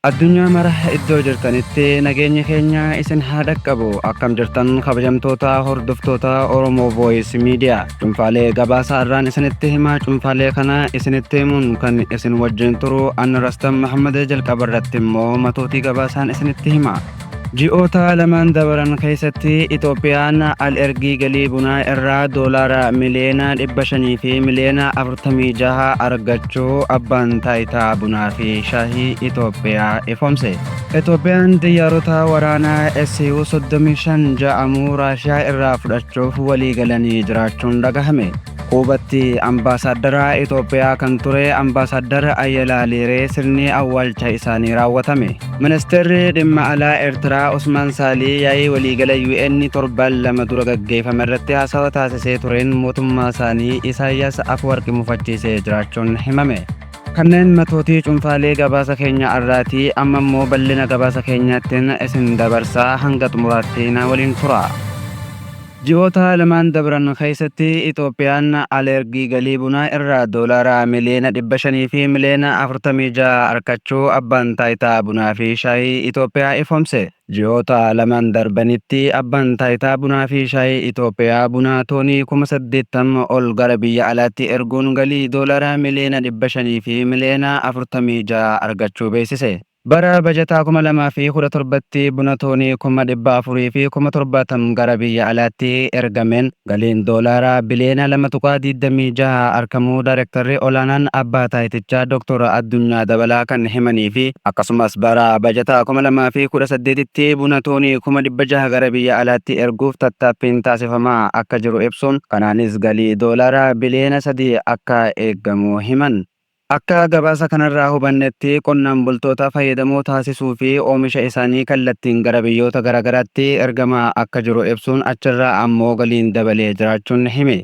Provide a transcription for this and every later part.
Addunyaa mara iddoo jirtanitti nageenyi keenya isin haa dhaqqabu akkam jirtan kabajamtoota hordoftoota Oromoo Voice Media cunfaalee gabaasaa irraan isinitti himaa cunfaalee kana isinitti himuun kan isin wajjin turu an Rastan Mahammad jalqaba irratti immoo matootii gabaasaan isinitti hima. Ji'oota lamaan dabaran keessatti Itoophiyaan al-ergii galii bunaa irraa doolaara miliyoona 500 fi miliyoona 46 argachuu Abbaan Taayitaa Bunaa fi Shaahii Itoophiyaa ifoomse. Itoophiyaan xiyyaarota waraanaa SU-35 ja'amu Raashiyaa irraa fudhachuuf waliigalanii jiraachuun dhagahame. Kuubatti ambaasaaddara Itoophiyaa kan ture ambaasaaddar Ayyalaa Leeree sirni awwaalcha isaanii raawwatame. Ministeerri dhimma alaa Eertiraa Usmaan Saalii yaa'ii waliigala UN torban lama dura gaggeeffame irratti haasawa taasisee tureen mootummaa isaanii Isaayyaas Afwarqi mufachiisee jiraachuun himame. Kanneen matootii cunfaalee gabaasa keenya arraati amma immoo bal'ina gabaasa keenyaattiin isin dabarsaa hanga xumuraatti na waliin turaa. Ji'oota lamaan dabran keessatti Itoophiyaan alergii galii bunaa irraa doolaara miliyoona 500 fi miliyoona 46 arkachuu Abbaan Taayitaa Bunaa fi Shaayii Itoophiyaa ifoomse. Ji'oota lamaan darbanitti Abbaan Taayitaa Bunaa fi Shaayii Itoophiyaa buna toonii kuma 80 ol gara biyya alaatti erguun galii doolaara miliyoona 500 fi miliyoona 46 argachuu beeksise. Bara bajataa 2017tti buna toonii kuma 400 fi kuma 70 gara biyya alaatti ergameen galiin doolaaraa biliyoona 2.26 arkamuu Daayrektarri Olaanaan Abbaa Taayitichaa Doktor Addunyaa Dabalaa kan himanii fi akkasumas bara bajataa 2018tti buna toonii kuma 600 gara biyya alaatti erguuf tattaaffiin taasifamaa akka jiru ibsuun kanaanis galii doolaaraa biliyoona 3 akka eegamu himan. Akka gabaasa kanarraa hubannetti qonnaan bultoota fayyadamoo taasisuu fi oomisha isaanii kallattiin gara biyyoota garaagaraatti ergamaa akka jiru ibsuun achirraa ammoo galiin dabalee jiraachuun hime.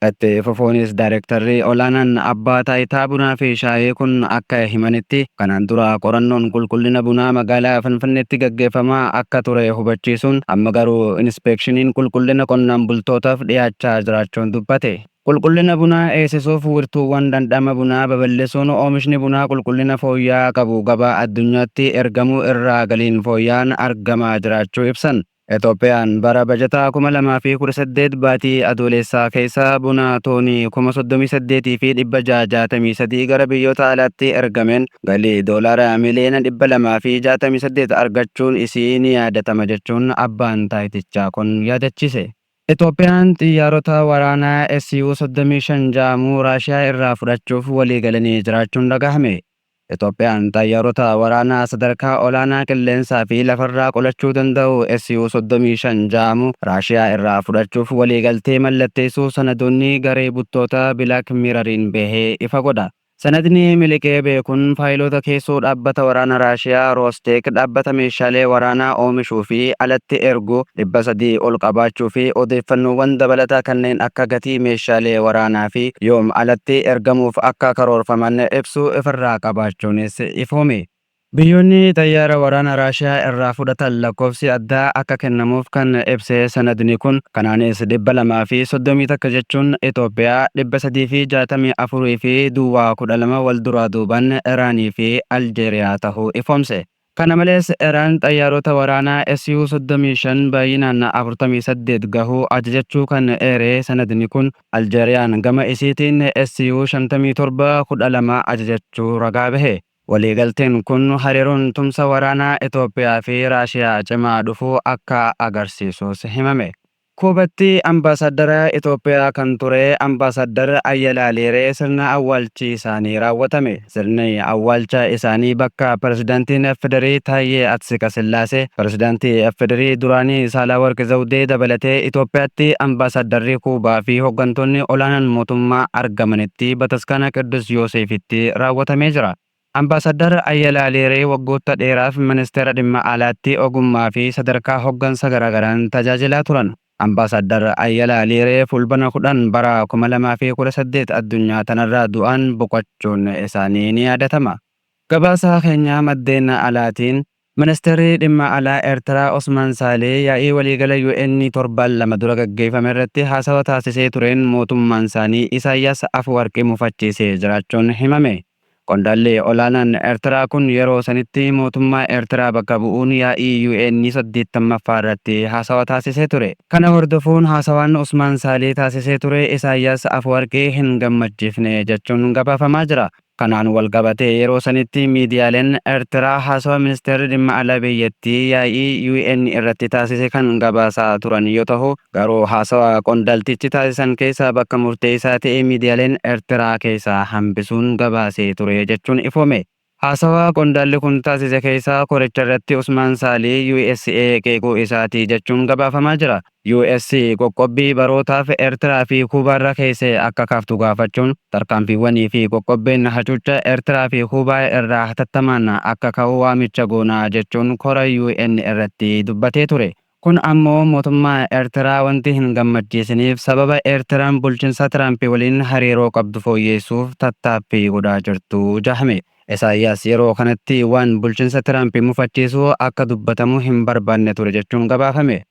Itti fufuunis Daarektarri olaanaan Abbaa Taayitaa Bunaa fi Shaayee kun akka himanitti, kanaan dura qorannoon qulqullina bunaa magaalaa Finfinneetti gaggeeffamaa akka ture hubachiisuun amma garuu inispeekshiniin qulqullina qonnaan bultootaaf dhiyaachaa jiraachuu dubbate. Qulqullina bunaa eeysisuuf wirtuuwwan dhandhama bunaa baballisuun oomishni bunaa qulqullina fooyya'aa qabu gabaa addunyaatti ergamuu irraa galiin fooyya'aan argamaa jiraachuu ibsan. Itoophiyaan bara bajataa 2018 baatii Adooleessaa keeysa buna toonii kuma 38 fi 663 gara biyyoota alaatti ergameen galii doolaara miliyoona 268 argachuun isii ni yaadatama jechuun abbaan taayitichaa kun yaadachiise. Itoophiyaan xiyyaarota waraanaa SU 35 ja'amu Raashiyaa irraa fudhachuuf walii galanii jiraachuun dhagahame. Itoophiyaan xayyaarota waraanaa sadarkaa olaanaa qilleensaa fi lafarraa qolachuu danda'u SU 35 ja'amu Raashiyaa irraa fudhachuuf walii galtee mallatteessuu sanadoonni garee buttoota Bilaak Miirariin bahe ifa godha. Sanadni miliqee beekuun faayiloota keessoo dhaabbata waraana Raashiyaa Roosteek dhaabbata meeshaalee waraanaa oomishuu fi alatti ergu dhibba sadii ol qabaachuu fi odeeffannoowwan dabalataa kanneen akka gatii meeshaalee waraanaa fi yoom alatti ergamuuf akka karoorfaman ibsu ifirraa qabaachuunis ifoome. Biyyoonni xayyaara waraana Raashiyaa irraa fudhatan lakkoofsi addaa akka kennamuuf kan ibse sanadni kun, kanaanis 231 jechuun Itoophiyaa, 364 fi duwwaa 12 wal duraa duuban Iraanii fi Aljeeriyaa tahuu ifoomse. Kana malees Iraan xayyaarota waraanaa SU 35 baayyinaan 48 gahu ajajachuu kan eere sanadni kun, Aljeeriyaan gama isiitiin SU 57 12 ajajachuu ragaa bahe. Waliigalteen kun hariiroon tumsa waraanaa Itoophiyaa fi Raashiyaa cimaa dhufuu akka agarsiisuus himame. Kuubatti Ambaasaddara Itoophiyaa kan ture Ambaasaddar Ayyalaa Liiree sirna awwaalchi isaanii raawwatame. Sirni awwaalcha isaanii bakka Pirezidantiin FDRI Taayyee Atsiqasillaasee, Pirezidantii FDRI duraanii Saalawarqi Zawdee dabalatee Itoophiyaatti Ambaasaddarri Kuubaa fi hoggantoonni olaanaan mootummaa argamanitti Bataskaana Qiddus Yooseefitti Itoophiyaatti raawwatamee jira. Ambaasaddar Ayyala Aleeree waggootta dheeraaf Ministeera Dhimma Alaatti ogummaa fi sadarkaa hoggansa garaagaraan tajaajilaa turan. Ambaasaddar Ayyala Aleeree Fulbana 10 bara 2018 addunyaa tanarraa du'aan boqachuun isaanii ni yaadatama. Gabaasaa keenya maddeen alaatiin Ministirri Dhimma Alaa Ertiraa Osmaan Saalee yaa'ii waliigala UN torbaan lama dura gaggeeffamerratti haasawa taasisee tureen mootummaansaanii Isaayyaas Afuwarqi mufachiisee jiraachuun himame. Qondaalli olaanaan Ertiraa kun yeroo sanitti mootummaa Ertiraa bakka bu'uun yaa'ii UN saddeettamaffaarratti haasawa taasisee ture. Kana hordofuun haasawaan Osmaan Saalee taasisee ture Isaayyaas Afuwarqi hin gammachiifne jechuun gabaafamaa jira. Kanaan walqabatee yeroo sanitti miidiyaaleen Ertiraa haasawa Ministeerri Dhimma Alaa biyyattii yaa'ii UN irratti taasise kan gabaasaa turan yoo tahu, garuu haasawa qondaltichi taasisan keessaa bakka murteessaa ta'e miidiyaaleen Ertiraa keessaa hambisuun gabaasee ture jechuun ifoome. Haasawa qondaalli kun taasise keessaa koricha irratti Usmaan Saalih USA qeequu isaati jechuun gabaafamaa jira. US qoqqobbii barootaaf Ertiraa fi Kuubaa irra keesse akka kaaftu gaafachuun, tarkaanfiiwwanii fi qoqqobbiin hacuucca Ertiraa fi Kuubaa irraa hatattamaan akka ka'u waamicha goona jechuun kora UN irratti dubbatee ture. Kun ammoo mootummaa Ertiraa wanti hin gammachiisiniif sababa Ertiraan bulchinsa Tiraamp waliin hariiroo qabdu fooyyeessuuf tattaaffii godhaa jirtu jahame. Esaayyaas yeroo kanatti waan bulchinsa Tiraamp mufachiisu akka dubbatamu hin barbaadne ture jechuun gabaafame.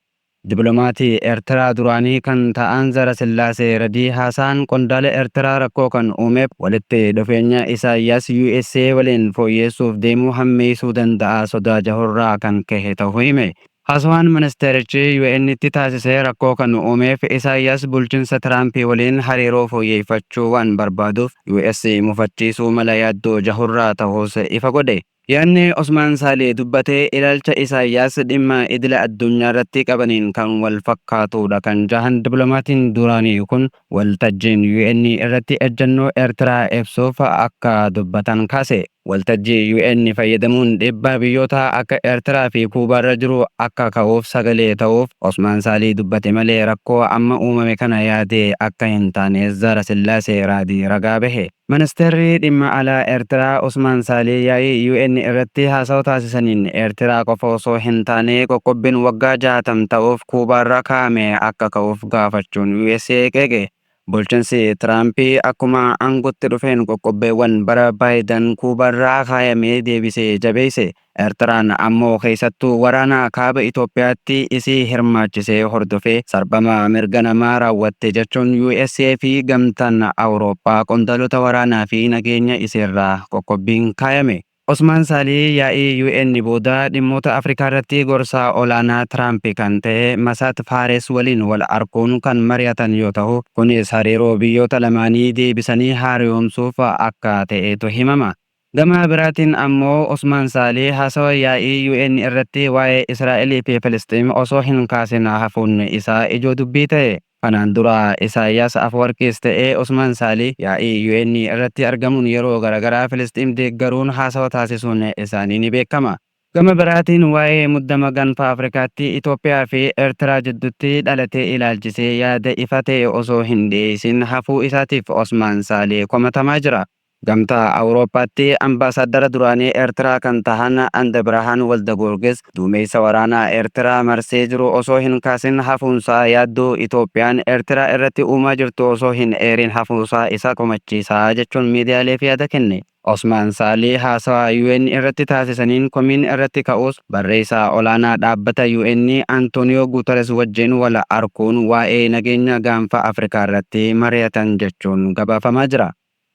Diplomaatii Ertiraa duraanii kan ta'an Zarasillaasee Redii haasaan qondaala Ertiraa rakkoo kan uumeef walitti dhufeenya Isaayyaas usa waliin fooyyeessuuf deemuu hammeessuu danda'a sodaa jahurraa kan kahe ta'uu hime. Haasawaan ministeerichi UNtti taasise rakkoo kan uumeef Isaayyaas bulchinsa Tiraamp waliin hariiroo fooyyeeffachuu waan barbaaduuf US mufachiisuu mala yaaddoo jahurraa ta'uus ifa godhe. Yaadni Osmaan Saalih dubbate ilaalcha Isaayyaas dhimma idila addunyaarratti qabaniin kan wal fakkaatuudha kan jahan diplomaatiin duraanii kun, waltajjiin UN irratti ejjannoo Ertiraa ibsuuf akka dubbatan kaase. Waltajjii UN fayyadamuun dhiibbaa biyyootaa akka Ertiraa fi Kuubaarra jiru akka ka'uuf sagalee ta'uuf Osmaan Saalih dubbate malee rakkoo amma uumame kana yaadee akka hin taane Zaarasillaasee Raadii ragaa bahe. Ministirri Dhimma Alaa Eertiraa Usmaan Saalih yaa'ii UN irratti haasawa taasisaniin, Eertiraa qofa osoo hin taane qoqqobbiin waggaa 60 ta'uuf Kuubaarra kaa'ame akka ka'uuf gaafachuun usa qeeqe. Bulchinsi Tiraamp akkuma aangootti dhufeen qoqqobbeewwan bara Baayidan Kuubaarra kaayame deebisee jabeesse. Ertiraan ammoo keessattuu waraana Kaaba Itoophiyaatti isii hirmaachise hordofee sarbama mirga namaa raawwatte jechuun USA fi Gamtaan Awurooppaa qondaalota waraanaa fi nageenya isiirraa qoqqobbiin kaayame. Osmaan Saalih yaa'ii UN booda dhimmoota Afrikaarratti gorsaa olaanaa Tiraamp kan ta'e Masaat Faares waliin wal arkuun kan mari'atan yoo tahu, kunis hariiroo biyyoota lamaanii deebisanii haariyoomsuuf akka ta'etu himama. Gama biraatiin ammoo Osmaan Saalih haasawa yaa'ii UN irratti waa'ee Israa'elii fi Filisxiim osoo hin kaasin hafuun isaa ijoo dubbii ta'e. Kanaan dura Isaayaas Afwarqiis ta'e Osmaan Saalih yaa'ii UN irratti argamuun yeroo garagaraa Filisxiim deeggaruun haasawa taasisuun isaanii ni beekama. Gama biraatiin waa'ee muddama Ganfa Afrikaatti Itoophiyaa fi Ertiraa jiddutti dhalate ilaalchisee yaada ifa ta'e osoo hin dhiyeessin hafuu isaatiif Osmaan Saalih komatamaa jira. Gamtaa Awurooppaatti Ambaasaaddara duraanii Ertiraa kan tahan Andebirahaan Waldagoorgis duumeessa waraanaa Ertiraa marsee jiru osoo hin kaasin hafuunsaa yaaddoo Itoophiyaan Ertiraa irratti uumaa jirtu osoo hin eeriin hafuusaa isa komachiisa jechuun miidiyaaleef yaada kenne. Osmaan Saalih haasawa UN irratti taasisaniin komiin irratti ka'us barreessaa olaanaa dhaabbata UN Antooniyoo Guutares wajjin wal arkuun waa'ee nageenya Gaanfa Afrikaarratti mariyatan jechuun gabaafamaa jira.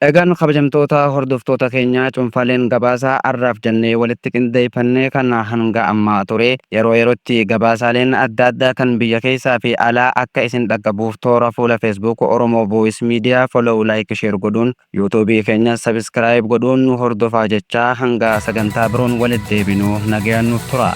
Egaan kabajamtoota hordoftoota keenyaa cuunfaaleen gabaasa arraaf jennee walitti qindeeyfannee kan hanga ammaa ture. Yeroo yerootti gabaasaaleen adda addaa kan biyya keeysaa fi alaa akka isin dhaqqabuuf toora fuula Facebook Oromo Voice Media follow like share godhuun YouTube keenyas subscribe godhuun nu hordofaa jechaa hanga sagantaa biroon walitt deebinu nagayaan nuuf turaa.